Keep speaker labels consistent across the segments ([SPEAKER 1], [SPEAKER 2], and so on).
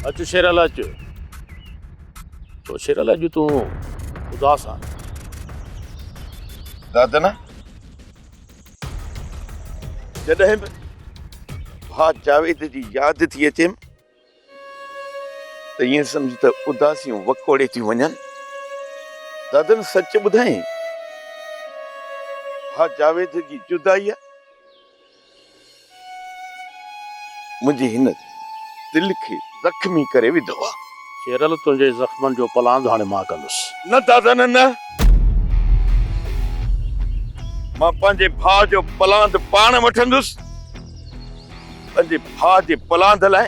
[SPEAKER 1] اچ شيرل اچ تو شيرل اڄ تون اداس آ
[SPEAKER 2] دادن جڏهن به ڀاء جاويد جي ياد ٿي اچيم ته ائين سمجھ ته اداسيون وڪوڙي ٿيون وڃن دادن سچ ٻڌائين ڀاء جاويد جي جدائي منهنجي هن دل کي زخمي ڪري وڌو آ. شيرل تنهنجي
[SPEAKER 1] زخمن جو پلاند هاڻي مان ڪندس. نه دادا نه نه.
[SPEAKER 2] مان پنهنجي ڀاء جو پلاند پاڻ وٺندس. پنهنجي ڀاء جي پلاند لاء.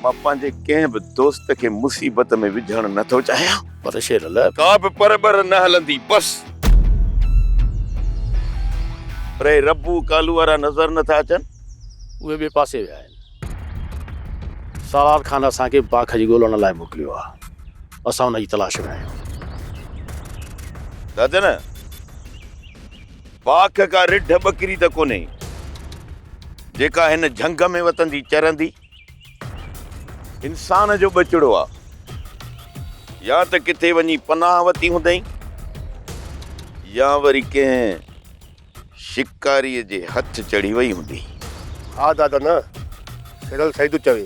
[SPEAKER 2] مان پنهنجي ڪنهن به دوست کي مصيبت ۾ وجهڻ نه ٿو چاهيان. پر شير لاء ڪا
[SPEAKER 1] به پر ٻر
[SPEAKER 2] نه هلندي، بس. پر هي ربو ڪالو وارا نظر نه ٿا اچن؟ اهي ٻئي
[SPEAKER 1] پاسي ويا آهن. سالار خان اسان کي باک جي ڳولڻ لاء موڪليو آهي. اسان ان جي تلاش ۾ آهيون.
[SPEAKER 2] دادن! پاڪ ڪا رڍ ٻڪري ته ڪونهي، جيڪا هن جهنگ ۾ وتندي چرندي. انسان جو ٻچڙو آ، يا ته ڪٿي وڃي پناهه وتي هوندئين، يا وري ڪنهن شڪاريء جي هٿ چڙهي وئي هوندي. ها دادا
[SPEAKER 3] نه، سيرل سعيد چوي.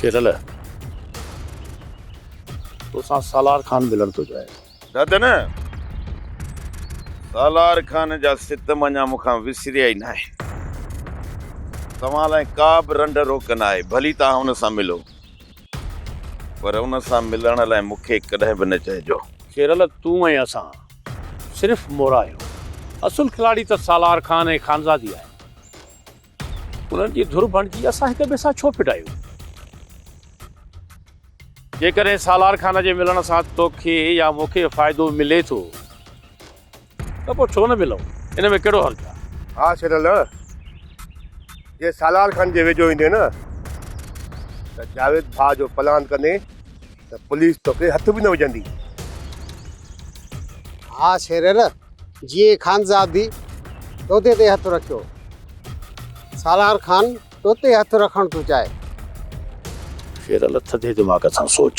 [SPEAKER 2] شيرل
[SPEAKER 1] توسان سالار خان ملڻ ٿو چاهي. دادن
[SPEAKER 2] سالار خان جا ستم اڃا مون کان وسريا ئي ناهن. توهان لاء ڪا به رنڊ روڪ ناهي. ڀلي توهان ان سان ملو. پر ان سان ملڻ لاء مون کي ڪڏهن به نه چئجو. شيرل تون ۽
[SPEAKER 1] اسان صرف مورا آهيون. اصل کلاڙي ته سالار خان ۽ خانزادي آهي. انهن جي ڌر بڻجي اسان هڪ ٻئي سان ڇو ڦٽايون؟ جيڪڏهن سالار خان جي ملڻ سان توکي يا مون کي فائدو ملي ٿو ته پوء ڇو نه ملون؟ ان ۾ ڪهڙو حرج آهي؟ ها شيرل،
[SPEAKER 3] جي سالار خان جي ويجهو ايندين ته جاويد ڀاء جو پلان ڪندين. ته پوليس توکي هٿ به نه وجهندي. ها
[SPEAKER 4] شيرر، جيئي خانزادي توتي تي هٿ رکيو. سالار خان توتي هٿ رکڻ ٿو چاهي.
[SPEAKER 1] شيرل ٿڌي دماغ سان سوچ.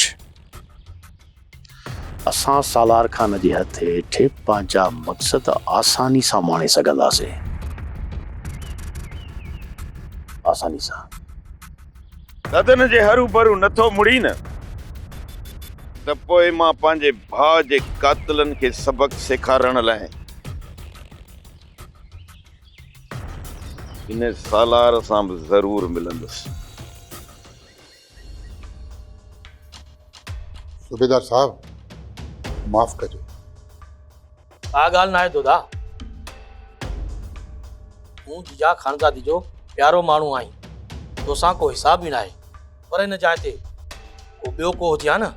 [SPEAKER 1] اسان سالار خان جي هٿ هيٺ پنهنجا مقصد آساني سان ماڻي سگهنداسين. آساني سان.
[SPEAKER 2] ٿڌن جي هروڀرو نه ٿو مڙين ته پوء مان پنهنجي ڀاء جي قاتلن کي سبق سيکارڻ لاء هن سالار سان به ضرور ملندس.
[SPEAKER 5] صوبيدار صاحب معاف ڪجو.
[SPEAKER 6] ڪا ڳالهه ناهي دوداء. تون ججا خانزادي جو پيارو ماڻهو آهين، توسان ڪو حساب ئي ناهي. پر هن جاء تي ڪو ٻيو ڪو هجي ها نه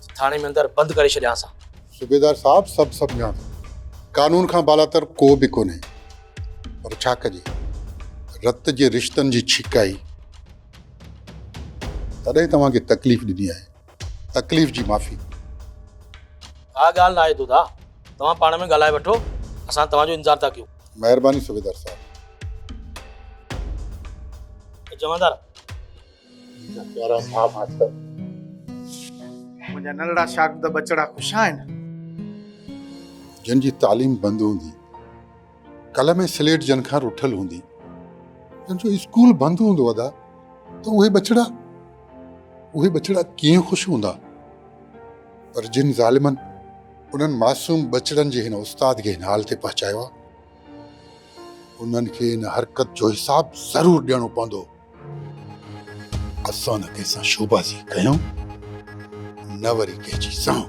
[SPEAKER 6] ته ٿاڻي ۾ اندر بند ڪري ڇڏيانس ها. صوبيدار صاحب
[SPEAKER 5] سڀ سڀ ڄاڻو. قانون کان بالاتر ڪو به ڪونهي. پر ڇا ڪجي. رت جي رشتن جي ڇڪائي. تڏهن توهان کي تڪليف ڏني آهي. تڪليف جي معافي.
[SPEAKER 6] ڪا ڳالهه ناهي دوداء، توهان پاڻ ۾ ڳالهائي وٺو، اسان توهان جو انتظار ٿا ڪيون. مهرباني صوبيدار
[SPEAKER 5] صاحب. جمعدار.
[SPEAKER 6] منهنجا پيارا ڀاء ڀاتر.
[SPEAKER 7] منهنجا ننڍڙا شاگرد ٻچڙا خوش آهن.
[SPEAKER 5] جن جي تعليم بند هوندي. قلم ۽ سليٽ جن کان رٺل هوندي. جن جو اسڪول بند هوندو ادا ته اهي ٻچڙا اهي ٻچڙا ڪيئن خوش هوندا. پر جن ظالمن انهن معصوم ٻچڙن جي هن استاد کي هن حال تي پهچايو آهي. انهن کي ان حرڪت جو حساب ضرور ڏيڻو پوندو. اسان نه ڪنهن سان شوبازي ڪيون نه وري ڪنهن جي سهون.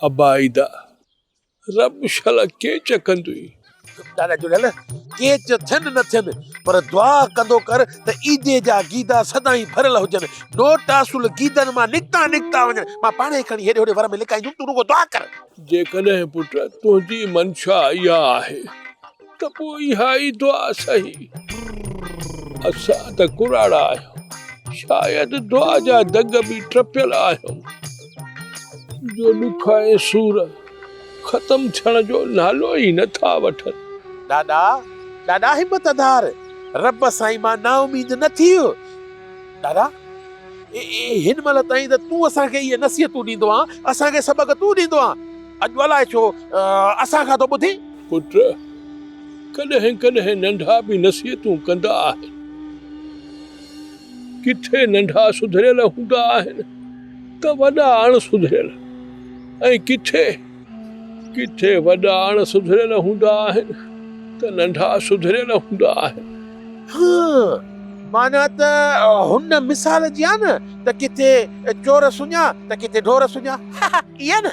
[SPEAKER 1] ابا ادا رب شلا ڪيچ ڪندوئي. ڏاڏا جڙيل
[SPEAKER 8] ڪيچ ٿين نه ٿين پر دعا ڪندو ڪر ته عيدي جا گيدا سدائين ڀريل هجن نوٽ اصل گيدن مان نڪتا نڪتا وڃن مان پاڻ ئي کڻي هيڏي هوڏي ور ۾ لڪائيندم تون رڳو دعا ڪر. جيڪڏهن پٽ
[SPEAKER 1] تنهنجي منشا اها آهي. ته پوء اها ئي دعا صحيح. اسان ته ڪراڙا آهيون، شايد دعا جا دڳ به ٽپيل آهيون، جو ڏک ۽ سور ختم ٿيڻ جو نالو ئي نه ٿا وٺن. ڏاڏا،
[SPEAKER 8] ڏاڏا همت اڌار، رب سائين مان نااميد نه ٿيء. ڏاڏا، هن مهل تائين ته تون اسان کي اهي نصيحتون ڏيندو آن، اسان کي سبق تون ڏيندو آن، اڄ الائي ڇو اسان کان ٿو ٻڌين؟ پٽ
[SPEAKER 1] ڪڏهن ڪڏهن ننڍا به نصيحتون ڪندا آهن. ڪٿي ننڍا سڌريل هوندا آهن ته وڏا اڻ سڌريل ۽ ڪٿي ڪٿي وڏا اڻ سڌريل هوندا آهن ته ننڍا سڌريل هوندا آهن. هان، معنيٰ
[SPEAKER 8] ته هن مثال جيان ته ڪٿي چور سڃا ته ڪٿي ڍور سڃا. هه هه، ائين نه؟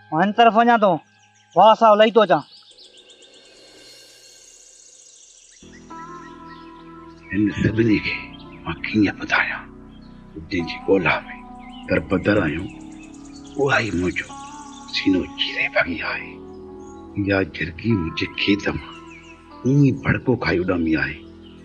[SPEAKER 9] مان هن طرف وڃان ٿو، واهه صاحب لهي ٿو اچان.
[SPEAKER 10] هن سڀني کي مان ڪيئن ٻڌايان، جنهن جي ڳولا ۾ دربدر آهيون، اها ئي منهنجو سينو چيري ڀڳي آهي. اها جرڳي منهنجي کيت مان ائين ڀڙڪو کائي اڏامي آهي،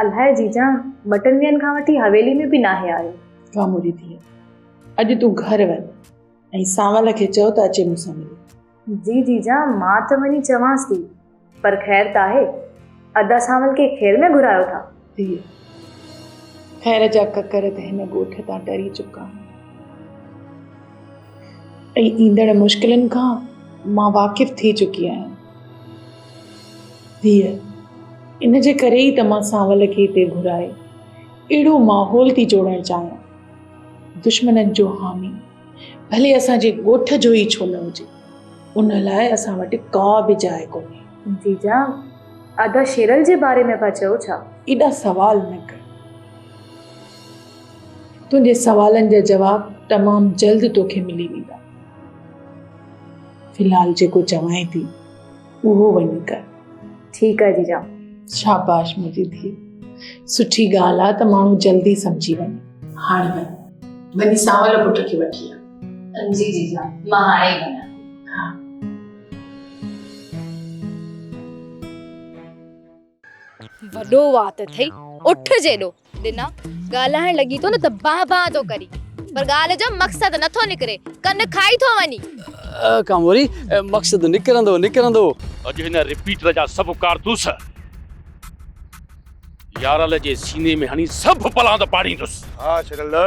[SPEAKER 11] الاهي جيجان
[SPEAKER 12] ٻٽن ڏينهن کان وٺي حويلي ۾ به ناهي آيو. ڪامو جي ڌيء
[SPEAKER 11] اڄ تون گهر وڃ ۽ سانول کي چئو ته اچي مون سان ملي. جي جيجان
[SPEAKER 12] مان ته وڃي چوانس ٿي پر خير ته آهي ادا سانول کي خير ۾ گهرايو ٿا. ڌيء
[SPEAKER 11] خير جا ڪڪر ته هن ڳوٺ تان ٽري چڪا آهن ۽ ايندڙ مشڪلن کان مان واقف ٿي چڪي آهيان. ڌيء، ان جي ڪري ئي ته مان سانول کي هتي گهرائي اهڙو ماحول ٿي جوڙڻ چاهيان. دشمنن جو حامي، ڀلي اسان جي ڳوٺ جو ئي ڇو نه هجي، ان لاء اسان وٽ ڪا به جاء ڪونهي. جيجا،
[SPEAKER 12] ادا شيرل جي باري ۾ پيا چئو ڇا؟ ايڏا سوال
[SPEAKER 11] نه ڪر. تنهنجي سوالن جا جواب تمام جلد توکي ملي ويندا. في الحال جيڪو چوانء ٿي. اهو وڃي ڪر. ٺيڪ آ
[SPEAKER 12] جيجا. شاباش
[SPEAKER 11] منهنجي ڌيء. سٺي ڳالهه آ ته ماڻهو جلدي سمجهي وڃي. هاڻ وڃ. وڃي سانول پٽ کي وٺي آ. جي جيجا مان هاڻي ئي وڃان ٿي. ها.
[SPEAKER 13] وڏو وات اٿئي اٺ جيڏو. ڏنا ڳالهائڻ لڳي ٿو نه ته بان بان ٿو ڪري پر ڳالهه جو مقصد نه ٿو نڪري ڪن کائي ٿو وڃي. ڪاموري
[SPEAKER 14] مقصد نڪرندو نڪرندو. اڄ هن
[SPEAKER 1] رپيٽر جا سڀ ڪارتوس يارل جي سيني ۾ هڻي سڀ پلاند پاڙيندس. ها شرلء.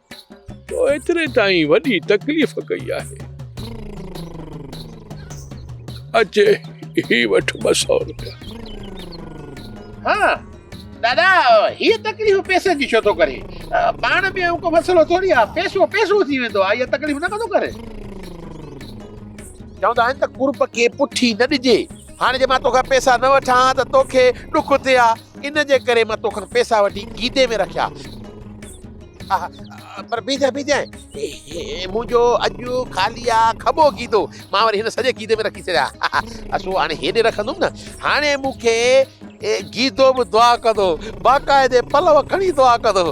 [SPEAKER 1] تو ايتري تائين وڏي تڪليف ڪئي آهي. اچ هي وٺ ٻه سؤ روپيا.
[SPEAKER 8] ها دادا هيء تڪليف پئسن جي ڇو ٿو ڪرين؟ پاڻ ۾ اهو ڪو مسئلو ٿوري آهي، پئسو پئسو ٿي ويندو آهي، اها تڪليف نه ڪندو ڪرين. چوندا آهن ته قرب کي پٺي نه ڏجي، هاڻي جي مان توکان پئسا نه وٺان ها ته توکي ڏک ٿئي ها، ان جي ڪري مان توکان پئسا وٺي گيدي ۾ رکيا. پر بيجان بيجان هي منهنجو اڄ خالي آ کٻو گيدو مان وري هن سڄي گيدي ۾ رکي ڇڏيا اسو هاڻي هيڏي رکندم نه هاڻي مون کي گيدو به دعا ڪندو باقاعدي پلو کڻي دعا ڪندو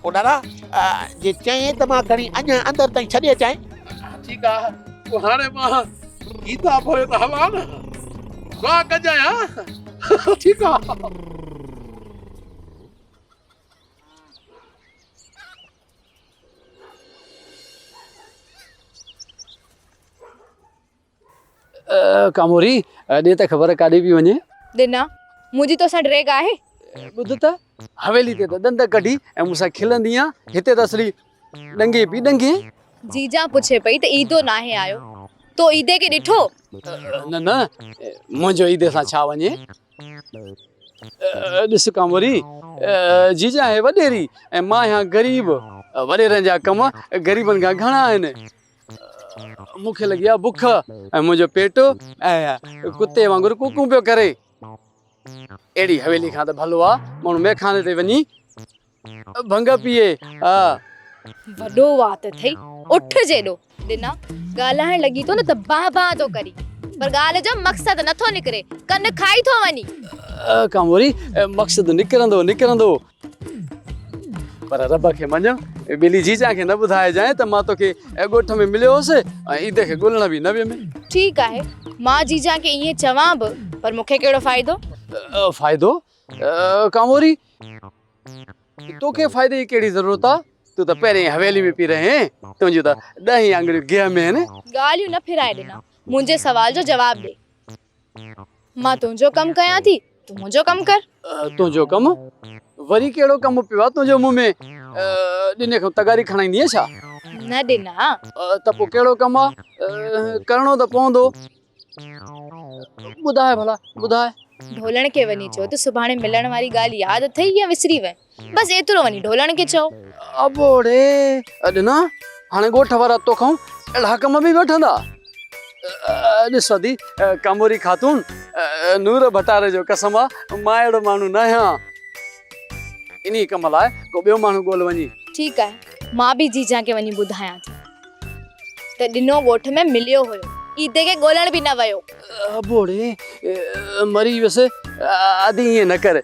[SPEAKER 8] پو ڏاڏا جي چئين ته مان کڻي اڃا اندر تائين ڇڏي اچائين ٺيڪ آ تو هاڻي مان گيتا پوي ته هلا نه دعا ڪجايان ٺيڪ آ
[SPEAKER 14] ڪاموري ڏي ته خبر ڪاڏي پي وڃي ڏنا
[SPEAKER 13] منهنجي تو سان ڊريگ آهي ٻڌ ته
[SPEAKER 14] حويلي تي ته ڏند ڪڍي ۽ مون سان کلندي آ هتي ته اصلي ڏنگي پئي ڏنگي. جيجان پڇي
[SPEAKER 13] پئي ته عيدو ناهي آيو، تو عيدي کي ڏٺو؟ نه نه
[SPEAKER 14] منهنجو عيدي سان ڇا وڃي. ڏس ڪانوري، جيجان آهي وڏيري ۽ مان آهيان غريب، وڏيرن جا ڪم غريبن کان گهڻا آهن. مون کي لڳي آهي بک ۽ منهنجو پيٽ ڪتي وانگر ڪون ڪون پيو ڪري. اهڙي حويلي کان ته ڀلو آ ماڻهو مئخاني تي وڃي. ڀنگ پيئي آ.
[SPEAKER 13] وڏو وات اٿئي اٺ جيڏو. ڏنا ڳالهائڻ لڳي ٿو نه ته بانهه بانهه ٿو ڪرين پر ڳالهه جو مقصد نٿو نڪري ڪن کائي ٿو وڃي. ڪاموري
[SPEAKER 14] مقصد نڪرندو نڪرندو. پر رب کي مڃ ٻلي جيجان کي نه ٻڌائجانء ته مان توکي ڳوٺ ۾ مليو هوس ۽ عيد کي ڳولڻ به نه ويم. ٺيڪ آهي
[SPEAKER 13] مان جيجان کي ائين چوان به پر مون کي ڪهڙو فائدو. فائدو
[SPEAKER 14] ڪاموري. توکي فائدي جي ڪهڙي ضرورت آ تون ته پهرين ئي حويلي ۾ پئي رهين تنهنجون ته ڏهه ئي آڱريون گيهه ۾ آهن. ڳالهيون نه ڦرائي ڏنا
[SPEAKER 13] منهنجي سوال جو جواب ڏي. مان تنهنجو ڪم ڪيان ٿي تون منهنجو ڪم ڪر. تنهنجو ڪم؟
[SPEAKER 14] وري ڪهڙو ڪم پيو آ تنهنجو مون ۾؟ ڏني کان تغاري کڻائيندينء ڇا؟ نه ڏنا.
[SPEAKER 13] ته پوء ڪهڙو
[SPEAKER 14] ڪم آ؟ ڪرڻو ته پوندو. ٻڌاء ڀلا ٻڌاء. ڍولڻ کي وڃي
[SPEAKER 13] چئو ته سڀاڻي ملڻ واري ڳالهه ياد اٿئي يا وسري وئين. بس ايترو وڃي ڍولڻ کي چئو. ابڙي
[SPEAKER 14] ڏنا هاڻي ڳوٺ وارا توکائون اهڙا ڪم به وٺندا. ڏس ادي ڪاموري خاتون نور ڀٽاري جو قسم آ مان اهڙو ماڻهو ناهيان. انهي ڪم لاء ڪو ٻيو ماڻهو ڳول وڃي. ٺيڪ آهي مان به جيجان کي
[SPEAKER 13] وڃي ٻڌايان ٿي. ته ڏنو ڳوٺ ۾ مليو هيو. عيدي کي ڳولڻ به نه ويو. ابوڙي
[SPEAKER 14] مري ويس. آڌي ائين نه ڪر.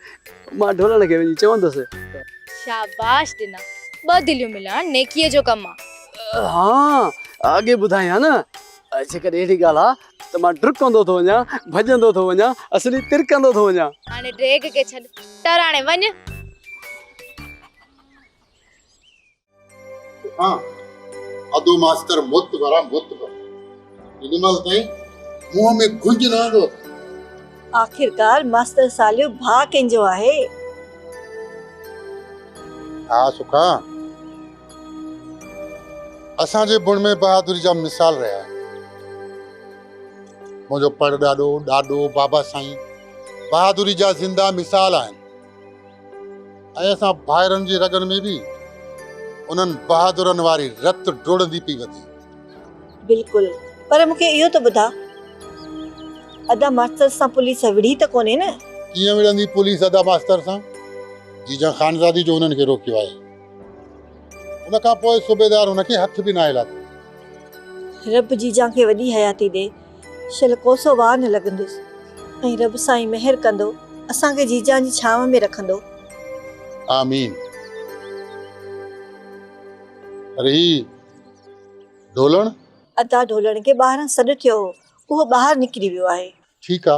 [SPEAKER 14] مان ڍولڻ کي وڃي چوندس. شاباش
[SPEAKER 13] ڏنا. ٻه دليون ملائڻ نيڪيء جو ڪم آ. ها
[SPEAKER 14] اڳي ٻڌايئي ها نه. جيڪڏهن اهڙي ڳالهه آ ته مان ڊرڪندو ٿو وڃان، ڀڄندو ٿو وڃان، اصلي ترڪندو ٿو وڃان. هاڻي ڊيگهه کي ڇڏ.
[SPEAKER 13] ٽراڻي وڃ.
[SPEAKER 5] ها ادو ماستر مت ڀرا مت ڀرا ان مال تائين منهن ۾ گنج نه آندو آخرڪار
[SPEAKER 15] ماستر ساليو ڀاء ڪنهن جو آهي
[SPEAKER 5] ها سکا اسان جي بڻ ۾ بهادري جا مثال رهيا آهن منهنجو پڙ ڏاڏو ڏاڏو بابا سائين بهادري جا زنده مثال آهن ۽ اسان ڀائرن جي رڳن ۾ به انهن بهادرن واري رت ڊوڙندي پئي وڌي. بلڪل
[SPEAKER 15] پر مون کي اهو ته ٻڌاء ادا ماستر سان پوليس وڙهي ته ڪونهي نه؟ ڪيئن وڙهندي پوليس
[SPEAKER 5] ادا ماستر سان جيجان خانزادي جو انهن کي روڪيو آهي ان کان پوء صوبيدار هن کي هٿ به ناهي لاٿو. رب جيجان کي
[SPEAKER 15] وڏي حياتي ڏي شل ڪوسو واء نه لڳندس ۽ رب سائين مهر ڪندو اسان کي جيجان جي ڇانو ۾ رکندو. آمين
[SPEAKER 5] پر هي ڍولڻ. ادا
[SPEAKER 15] ڍولڻ کي ٻاهران سڏ ٿيو هو اهو ٻاهر نڪري ويو آهي. ٺيڪ آ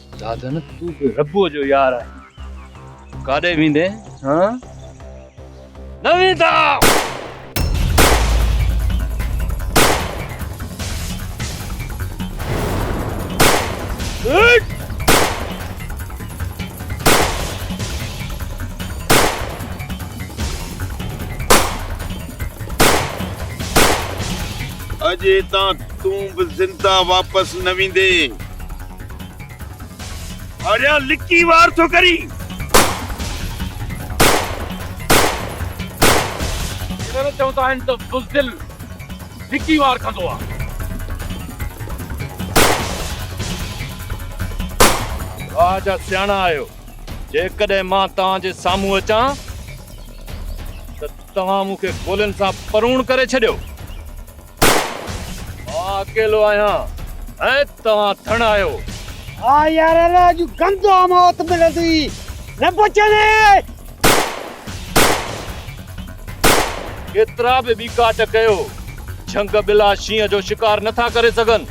[SPEAKER 16] دادن تون به ربوء جو يار آهين ڪاڏي ويندين هان نه ويندا
[SPEAKER 2] اڄ هتان تون به زنده واپس نه ويندين آريا لڪي وار ٿو ڪرين
[SPEAKER 8] ڪيڏانهن چوندا آهن ته بزدل لڪي وار ڪندو آهي
[SPEAKER 16] واهه جا سياڻا آهيو جيڪڏهن مان توهان جي سامهون اچان ته توهان مون کي گولين سان پروڻ ڪري ڇڏيو مان اڪيلو آهيان ۽ توهان ٿڻ آهيو. ها يار
[SPEAKER 4] الا اڄ گندو موت ملندي نه بچندي.
[SPEAKER 16] ڪيترا به ٻيڪاٽ ڪيو جهنگ ٻلا شينهن جو شڪار نه ٿا ڪري سگهن.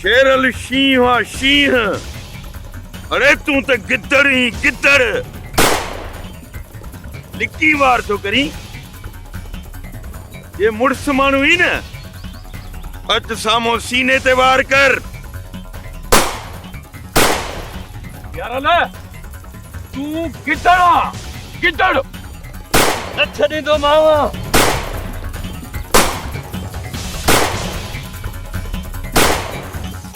[SPEAKER 2] شيرل شينهن آ شينهن. اڙي تون ته گدڙ هين گدڙ. لڪي وار ٿو ڪرين. جي مڙس ماڻهو ئي نه اچ سامهون سيني تي وار ڪر
[SPEAKER 8] يار نه تون گدڙ آ گدڙ نه
[SPEAKER 16] ڇڏيندو ماوا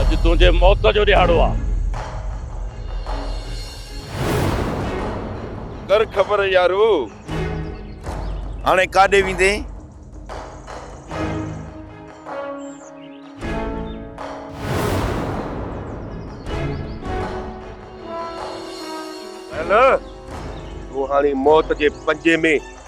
[SPEAKER 8] اڄ تنهنجي موت جو ڏهاڙو آ.
[SPEAKER 2] ڪر خبر يارو. هاڻي ڪاڏي ويندين؟ نه
[SPEAKER 3] نه. تون هاڻي موت جي پنجي ۾.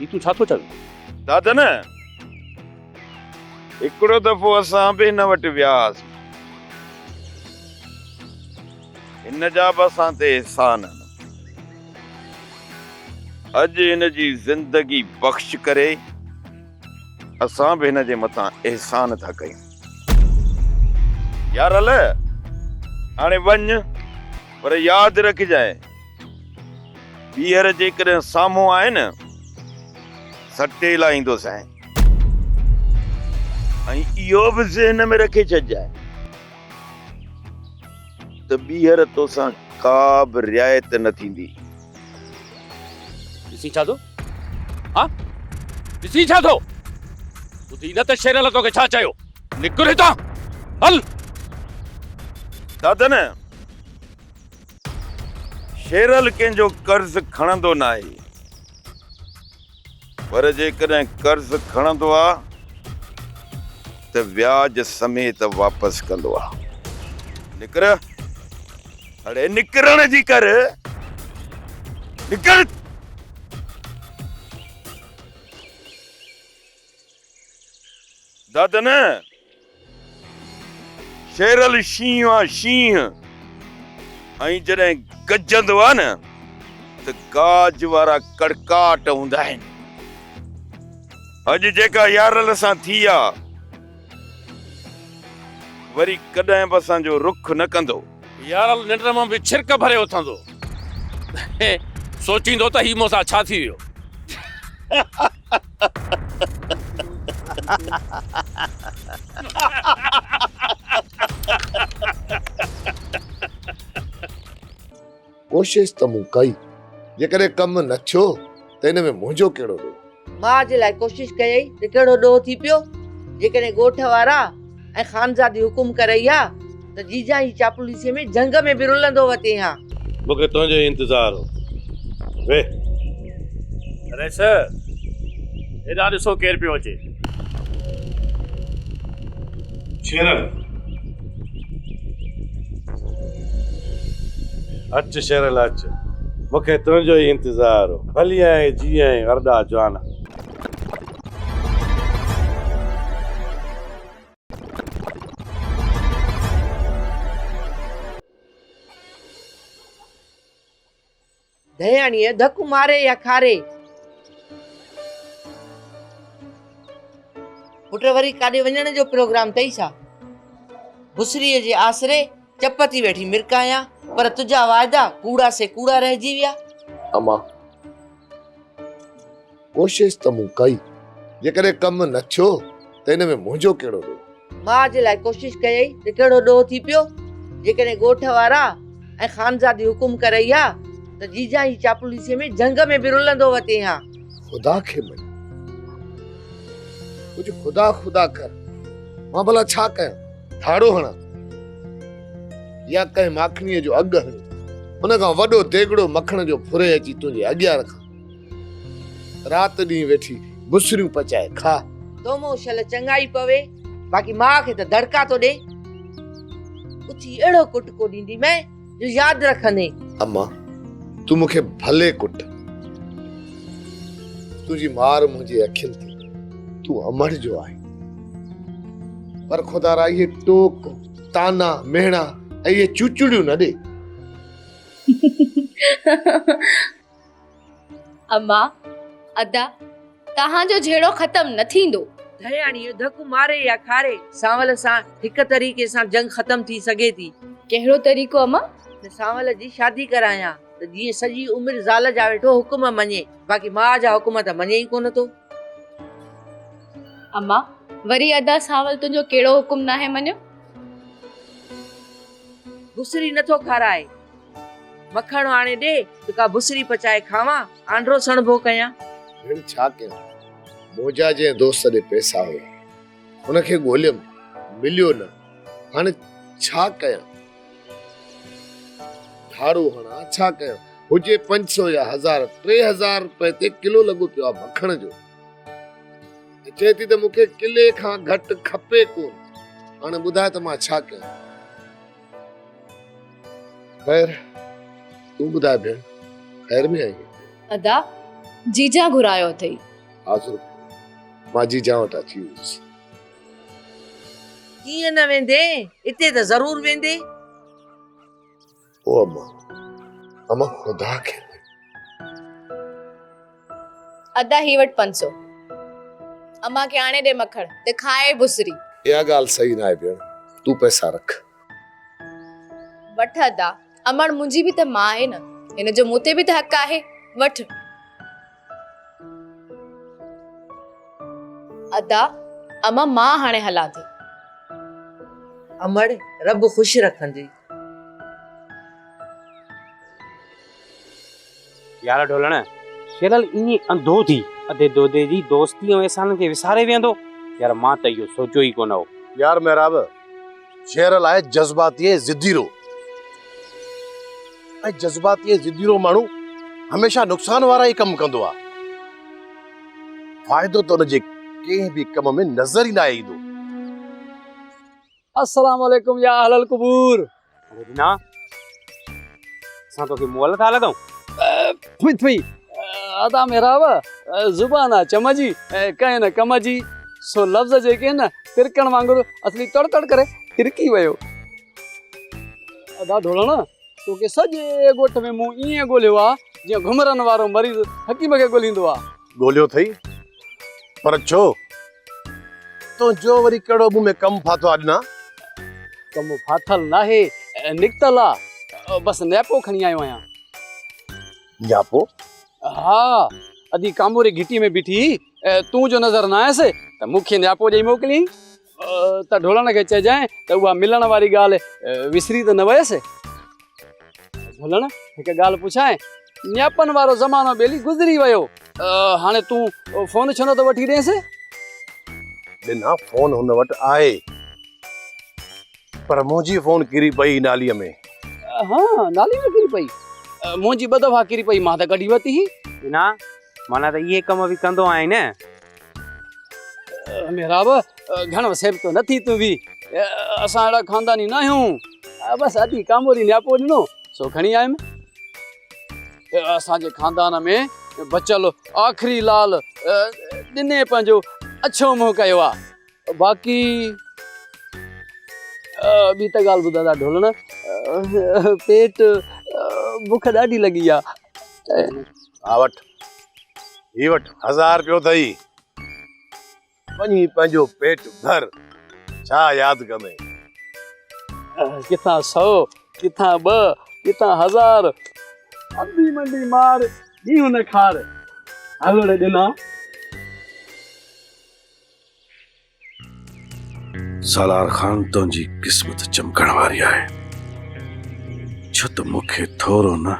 [SPEAKER 8] هي تون ڇا ٿو چوين؟ دادن!
[SPEAKER 2] هڪڙو دفعو اسان به هن وٽ ويا هئاسين. هن جا به اسان تي احسان آهن. اڄ هن جي زندگي بخش ڪري اسان به هن جي مٿان احسان ٿا ڪيون. يارل! هاڻي وڃ پر ياد رکجانء. ٻيهر جيڪڏهن سامهون آئي نه سٽي لائيندوسانء. ۽ اهو به ذهن ۾ رکي ڇڏجانء ته ٻيهر توسان ڪا به رعايت نه ٿيندي.
[SPEAKER 8] ڏسين ڇا ٿو؟ ها؟ ڏسين ڇا ٿو؟ ٻڌين نه ته شيرل توکي ڇا چيو؟ نڪر هتان! هل!
[SPEAKER 2] دادن! شيرل ڪنهن جو قرض کڻندو ناهي پر جيڪڏهن قرض کڻندو آ ته وياج سميت واپس ڪندو آ. نڪر اڙي نڪرڻ جي ڪر نڪر. دد نه شيرل شينهن آ شينهن ۽ جڏهن گجندو آ نه ته گاج وارا ڪڙڪاٽ هوندا آهن اڄ جيڪا يارل سان ٿي آ وري ڪڏهن به اسان جو رخ نه ڪندو يارل ننڊ
[SPEAKER 8] مان به ڇرڪ ڀري اٿندو سوچيندو ته هي مون سان ڇا ٿي ويو
[SPEAKER 3] ڪوشش ته مون ڪئي جيڪڏهن ڪم نه ٿيو ته ان ۾ منهنجو ڪهڙو ڏوهه. ماء جي لاء ڪوشش
[SPEAKER 17] ڪيئي ته ڪهڙو ڏوهه ٿي پيو جيڪڏهن ڳوٺ وارا ۽ خانزادي حڪم ڪرئي ها ته جيجان جي چاپلوسيء ۾ جهنگ ۾ به رلندو وتين ها. مون کي تنهنجو ئي
[SPEAKER 16] انتظار هو. ويهه.
[SPEAKER 6] رئيس، هيڏانهن ڏسو ڪير پيو اچي.
[SPEAKER 16] شيرن. اچ شيرن اچ، مون کي تنهنجو ئي انتظار هو. ڀليائين جيئين ارڏا جوانا.
[SPEAKER 17] ڌياڻيء ڌڪ ماري يا کاري پٽ وري ڪاڏي وڃڻ جو پروگرام اٿئي ڇا بسري جي آسري چپ ٿي ويٺي مرڪايا پر تنهنجا واعدا ڪوڙا سي ڪوڙا رهجي ويا اما
[SPEAKER 3] ڪوشش ته مون ڪئي، جيڪڏهن ڪم نه ٿيو ته ان ۾ منهنجو ڪهڙو ڏوهه؟ ماء جي لاء ڪوشش
[SPEAKER 17] ڪيئي ته ڪهڙو ڏوهه ٿي پيو؟ جيڪڏهن ڳوٺ وارا ۽ خانزادي حڪم ڪرئي ها ته جيجان جي چاپلوسيء ۾ جهنگ ۾ به رلندو وتين ها. خدا کي مڃ.
[SPEAKER 3] ڪجهه خدا خدا ڪر. مان ڀلا ڇا ڪيان؟ ڌاڙو هڻان يا ڪنهن ماکڻيء جو اگهه هڻي ان کان وڏو ديڳڙو مکڻ جو ڦري اچي تنهنجي اڳيان رکان؟ رات ڏينهن ويٺي بسريون پچائي کاء. تو مون شل
[SPEAKER 17] چڱائي پوي. باقي ماء کي ته دڙڪا ٿو ڏي. اٿي اهڙو ڪٽڪو ڏيندي مين جو ياد رکندين. اما
[SPEAKER 3] تون مون کي ڀلي ڪٽ. تنهنجي مار منهنجي اکين تي تون امڙ جو آهين. پر خدارا اهي ٽوڪ، طعنا، مهڻا ۽ اهي چوچڙيون نه ڏي.
[SPEAKER 13] اما، ادا، توهان جو جهيڙو ختم نه ٿيندو. ڌياڻيء ڌڪ
[SPEAKER 17] ماري يا کاري. سانول سان هڪ طريقي سان جنگ ختم ٿي سگهي ٿي. ڪهڙو طريقو
[SPEAKER 13] اما؟ ته سانول جي
[SPEAKER 17] شادي ڪرايان ته جيئن سڄي عمر زال جا ويٺو حڪم مڃي، باقي ماء جا حڪم ته مڃي ئي ڪونه ٿو.
[SPEAKER 13] اما، وري ادا سانول تنهنجو ڪهڙو حڪم ناهي مڃيو؟
[SPEAKER 17] گسري نه ٿو کارائي. مکڻ آڻي ڏي ته ڪا بسري پچائي کاوان، آنڊرو سڻڀو ڪيان. ڀيڻ ڇا
[SPEAKER 3] ڪيان، موجا جنهن دوست ڏي پئسا هيا، ان کي ڳوليم، مليو نه، هاڻي ڇا ڪيان، ڌاڙو هڻان، ڇا ڪيان، هجي پنج سو يا هزار، ٽي هزار روپئي تي ڪلو لڳو پيو آهي مکڻ جو، ۽ چئين ٿي ته مون کي ڪلي کان گهٽ کپي ڪونه، هاڻي ٻڌاء ته مان ڇا ڪيان. خير تون ٻڌاء ڀيڻ خير ۾ آهين ادا
[SPEAKER 13] جيجا گهرايو اٿئي ها سرخ
[SPEAKER 3] مان جيجا وٽ اچي ويس
[SPEAKER 17] ڪيئن نه ويندي اتي ته ضرور ويندي او
[SPEAKER 3] اما اما خدا کي
[SPEAKER 13] ادا هي وٺ پنج سو. امان کي آڻي ڏي مکڻ ته کائي بسري. اها ڳالهه صحيح
[SPEAKER 3] ناهي ڀيڻ تون پئسا رک.
[SPEAKER 13] وٺ ادا امڙ منهنجي به ته ماء آهي نه هن جو مون تي به ته حق آهي وٺ. ادا امان مان هاڻي هلان ٿي. امڙ
[SPEAKER 17] رب خوش رکنجي.
[SPEAKER 18] يار ڍولڻ شيرل ائين انڌو ٿي ادي دودي جي دوستي ۽ احسانن کي وساري ويهندو؟ يار مان ته اهو سوچيو ئي ڪونه هو. يار محراب
[SPEAKER 19] شيرل آهي جذباتي ۽ ضدي روح ۽ جذباتي ۽ ضدي روح ماڻهو هميشه نقصان وارا ئي ڪم ڪندو آهي. فائدو ته ان جي ڪنهن به ڪم ۾ نظر ئي ناهي ايندو.
[SPEAKER 14] السلام عليڪم يا اهل القبور. اڙي بنا
[SPEAKER 18] اسان توکي مئل ٿا لڳون. ڦئي
[SPEAKER 14] ڦئي ادا محراب زبان آ چم جي ڪنهن نه ڪم جي سو لفظ جيڪي ان ترڪڻ وانگر اصلي تڙ تڙ ڪري ترڪي ويو. ادا ڍولڻ توکي سڄي ڳوٺ ۾ مون ائين ڳولهيو آ جيئن گهمرن وارو مريض حڪيم کي ڳولهيندو آ. ڳوليو ٿئي
[SPEAKER 19] پر ڇو؟ تنهنجو وري ڪهڙو مون ۾ ڪم ڦاٿو آ ڏنا؟ ڪم
[SPEAKER 14] ڦاٿل ناهي، نڪتل آ. بس نياپو کڻي آيو آهيان.
[SPEAKER 19] نياپو؟ ها،
[SPEAKER 14] ادي ڪاموري گهٽي ۾ بيٺي هئي، تون جو نظر نه آيس ته مون کي نياپو ڏئي موڪليائين. ته ڍولڻ کي چئجانء ته اها ملڻ واري ڳالهه وسري ته نه ويس؟ ڍولڻ، هڪ ڳالهه پڇانء؟ نياپن وارو زمانو ٻيلي گذري ويو، هاڻي تون فون ڇو نٿو وٺي ڏينس؟
[SPEAKER 19] ڏنا، فون هن وٽ آهي، پر منهنجي فون ڪري پئي ناليء ۾. ها،
[SPEAKER 14] ناليء ۾ ڪري پئي؟ منهنجي ٻه دفعا ڪري پئي، مان ته ڪڍي ورتي هئي. ڏنا،
[SPEAKER 18] معنيٰ ته اهي ڪم به ڪندو آهين نه؟
[SPEAKER 14] محراب گھڻو سيب تو نٿي تون به اسان اهڙا خانداني نه آهيون بس ادي ڪاموري نياپو ڏنو سو کڻي آيم اسان جي خاندان ۾ بچل آخري لال ڏني پنهنجو اڇو منهن ڪيو آ باقي ٻي ته ڳالهه ٻڌادا ڍولڻ پيٽ بک ڏاڍي لڳي آ ها
[SPEAKER 19] وٺ هي وٺ هزار پيو اٿئي وڃي پنهنجو پيٽ ڀر ڇا ياد ڪندين
[SPEAKER 14] ڪٿان سو ڪٿان ٻه ڪٿان هزار انڊي منڊي مار ڏينهن نه کار هلڙ ڏنا.
[SPEAKER 10] سالار خان تنهنجي قسمت چمڪڻ واري آهي ڇو ته مون کي ٿورو نه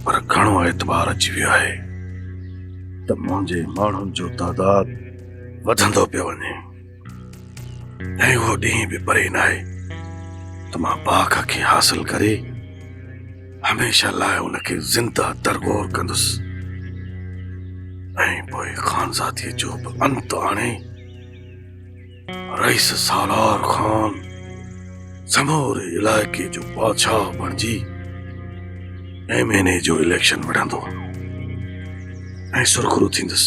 [SPEAKER 10] پر گهڻو اعتبار اچي ويو آهي ته منهنجي ماڻهن جو تعداد وڌندو پيو وڃي ۽ اهو ڏينهن به پري ناهي ته مان باغ کي حاصل ڪري هميشه لاء ان کي زنده ترگور ڪندس ۽ پوء خانزادي جو به انت آڻي رئيس سالار خان سموري علائقي جو بادشاهه بڻجي ايم اين اي جو اليڪشن وڙهندو ۽ سرخرو ٿيندس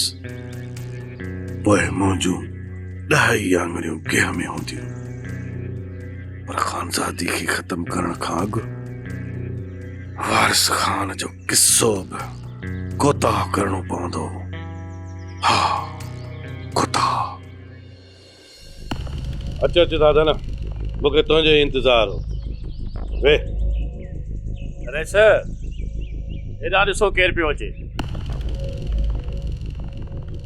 [SPEAKER 10] پوء منهنجون ڏهائي آڱريون گيهه ۾ هونديون پر خانزادي کي ختم ڪرڻ کان اڳ وارث خان جو قصو به ڪوتاهه ڪرڻو پوندو ها ڪوتاهه
[SPEAKER 19] اچ اچ دادن مون کي تنهنجو ئي انتظار هو ويهه
[SPEAKER 16] رئيس هيڏانهن ڏسو ڪير پيو اچي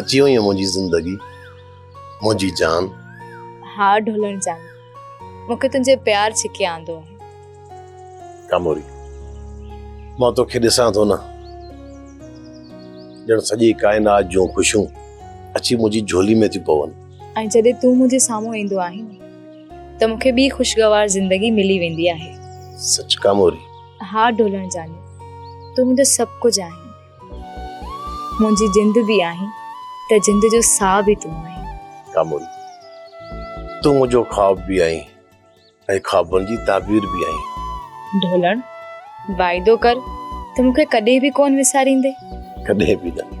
[SPEAKER 19] اچي وئين منهنجي زندگي منهنجي جان. ها
[SPEAKER 12] ڍولڻ جان مون کي تنهنجي پيار ڇڪي آندو آهي.
[SPEAKER 19] ڪاموري مان توکي ڏسان ٿو نه ڄڻ سڄي ڪائنات جون خوشيون اچي منهنجي جھولي ۾ ٿيون پون. ۽ جڏهن تون منهنجي
[SPEAKER 12] سامهون ايندو آهين ته مون کي ٻي خوشگوار زندگي ملي ويندي آهي. سچ ڪاموري.
[SPEAKER 19] ها ڍولڻ
[SPEAKER 12] جان تون منهنجو سڀ ڪجھه آهين. منهنجي جند به آهين ته جند جو ساهه به تون آهين. ڪاموري!
[SPEAKER 19] تون منهنجو خواب به آهين ۽ خوابن جي تعبير به آهين. ڍولڻ!
[SPEAKER 12] واعدو ڪر ته مون کي ڪڏهن به
[SPEAKER 19] ڪونه
[SPEAKER 12] وساريندين.
[SPEAKER 19] ڪڏهن
[SPEAKER 12] به نه.